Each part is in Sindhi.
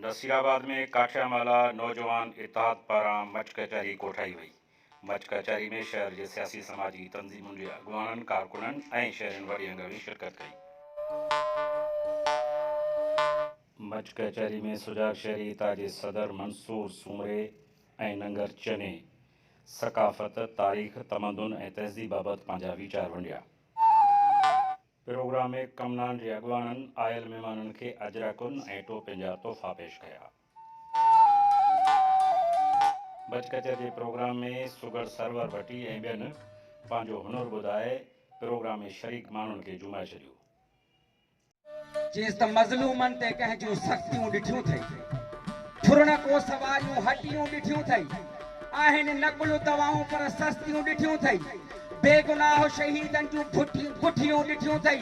نصيرآباد ۾ ڪاٺيامالا نوجوان اتحاد پاران مچ ڪچهري ڪوٺائي وئي. مچ ڪچهري ۾ شهر جي سياسي سماجي تنظيمن جي اڳواڻن، ڪارڪنن ۽ شهرين وڏي انگ ۾ شرڪت ڪئي. مچ ڪچهري ۾ سجاڳ شهري اتحاد جي صدر منصور سومري ۽ ننگر چني ثقافت، تاريخ، تمدن ۽ تهذيب بابت پنهنجا ويچار ونڊيا. پروگرام ۾ ڪمنان جي اڳواڻن آيل مھمانن کي اجرڪن ۽ ٽوپين جا تحفا پيش ڪيا. بچ ڪچھر جي پروگرام ۾ سگھڙ سرور ڀٽي ۽ ٻين پنھنجو ھنر ٻڌائي پروگرام ۾ شريڪ ماڻھن کي جھومائي ڇڏيو. چيس ته مظلومن تي ڪنھن جون سختيون ڏٺيون ٿئي؟ ٺرڻ ڪوس واريون ھٽيون ڏٺيون ٿئي؟ آھن نقل دوائون پر سستيون ڏٺيون ٿئي؟ بيگناهه شهيدن جون ڦٺيون ڪٺيون ڏٺيون ٿئي،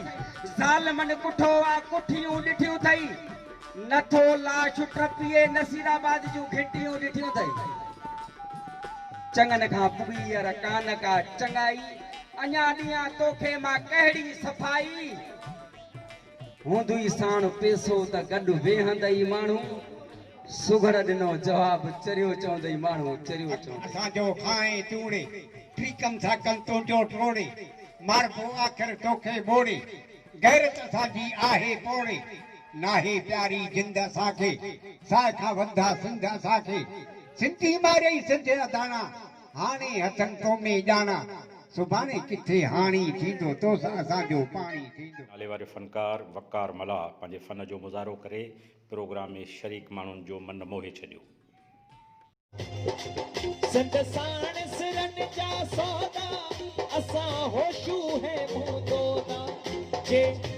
ظالمن ڪٺو آ ڪٺيون ڏٺيون ٿئي، نه ٿو لاش ٽپي نصير آباد جون گهٽيون ڏٺيون ٿئي. چڱن کان ٻويئر ڪانه ڪا چڱائي، اڃا ڏيان توکي مان ڪهڙي صفائي. هوندئي ساڻ پيسو ته گڏ ويهندئي ماڻهو سگهڙ ڏنو جواب چريو چوندئي ماڻهو چريو چوندئي. اسان جو کانئين توڙي ٽريڪن سان ڪن تنهنجو ٽوڙي ماربو آخر توکي ٻوڙي غيرت اسان جي آهي پوڙي ناهي پياري جند اسان کي ساهه کان وڌندا سنڌ اسان کي سنڌي مارئي سنڌ اڌاڻا هاڻي هٿن تومي ڄاڻا، سڀاڻي ڪٿي هاڻي ٿيندو توس اسان جو پاڻي ٿيندو. ناليواري فنڪار وقار ملاح پنهنجي فن جو مظاهرو ڪري پروگرام ۾ شريڪ ماڻهن جو من موهي ڇڏيو. سنڌ ساڻ سرن جا سودا اسان هوشون هيمون دودا جي.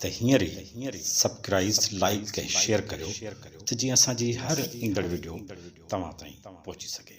ته هينئر ئي سبڪرائز لائيڪ ۽ شيئر ڪريو ته جيئن اسان جي هر ايندڙ وڊيو توهان تائين پهچي سگهي.